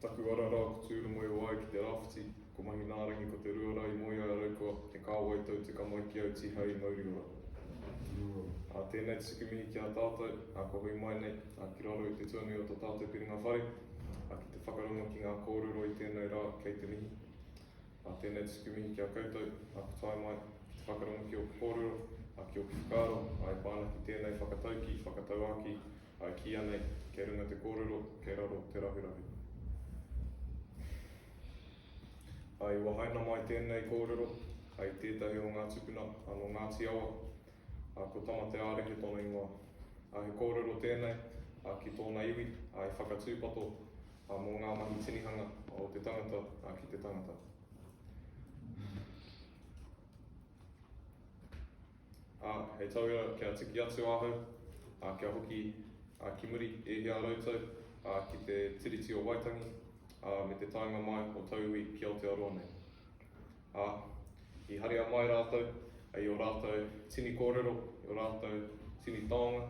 Taku ara rā ko Tūrongo e wāia ki te rāwhiti, ko Mahinārangi ko te rua rā i moea e Raukua, te kāwai tau tika mai ki au tīhai i Mauriora. Ā, tēnei te tuku mihi ki a tātou, ā, kua hui mai nei, ā, ki raro i te tuanui o tō tātou piringa whare, ā, ki te whakarongo ki ngā kōrero i tēnei rā, kei te mihi. Ā, tēnei te tuku mihi ki a koutou, ā, ka tae mai, ki te whakarongo ki ōku kōrero, ā, ki ōku whakaaro, ā, e pā ana ki tēnei whakataukī, whakatauākī, I kī anei, kei runga te kōrero, kei raro te rahurahu. I wahaina mai tēnei kōrero hei tētahi o ngā tupuna a nō Ngāti Awa, a ko Tamateārehe tōna ingoa. A he kōrero tēnei a ki tōna iwi, a i whakatūpato a mō ngā mahi tinihanga o te tangata a ki te tangata. Ā, hei tauira kia tiki atu ahau, ā, kia hoki a ki muri e hia rautau, ā, ki te Tiriti o Waitangi, ā, me te taenga mai o tauiwi ki Aotearoa nei. Ā, i haria mai rātou i ō rātou tini kōrero, i ō rātou tini taonga,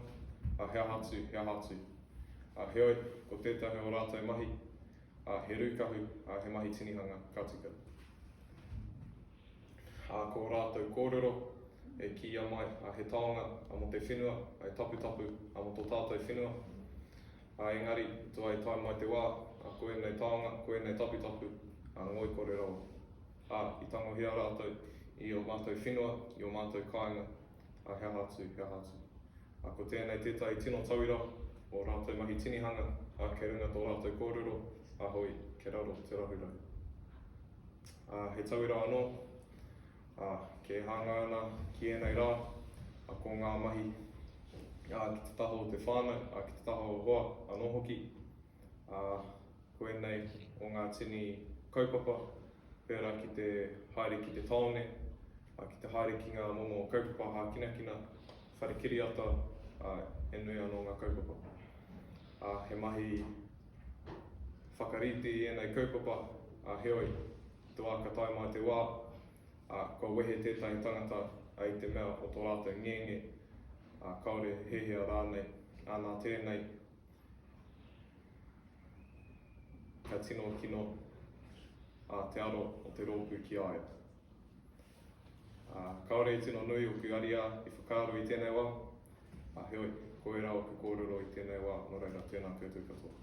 ā, he aha atu, he aha atu. Ā, heoi, ko tētahi o ō rātou mahi, ā, he rūkahu, ā, he mahi tinihanga ka tika. Ā, ko ō rātou kōrero e kīia mai, ā, he taonga a mō te whenua, ā, he taputapu a mō tō tātou whenua. Ā, engari, i tua e tae mai te wā, ā, ko ēnei taonga, ko ēnei taputapu, ā, ngoikore rawa. Ā, i tangohia rātou i ō mātou whenua, i ō mātou kāinga, ā, he aha atu, he aha atu. Ā, ko tēnei tētahi tino tauira, ō rātou mahi tinihanga, ā, kei runga tō rātou kōrero, ā, hoi, kei raro te rahurahu. Ā, he tauira anō. Ā, kē hāngai ana ki ēnei rā, ā, ko ngā mahi, ā, ki te taha o te whānau, ā, ki te taha o hoa anō hoki. Ā, ko ēnei o ngā tini kaupapa pērā ki te haere ki te tāone, ā, ki te haere ki ngā momo kaupapa hākinakina, whare kiriata, ā, he nui anō ngā kaupapa. Ā, he mahi. Whakarite i ēnei kaupapa, ā, heoi, i te wā ka tae mai te wā, ā, kua wehe tētahi tangata, ā, i te mea o tō rātou ngenge, ā, kāore he hea rānei, ā, nā tēnei, ka tino kino, ā, te aro o te rōpū ki a ia. Ā, kāore i tino nui ōku ariā i whakaaro i tēnei wā, ā, heoi, ko ērā ōku kōrero i tēnei wā, nō reira, tēnā koutou katoa.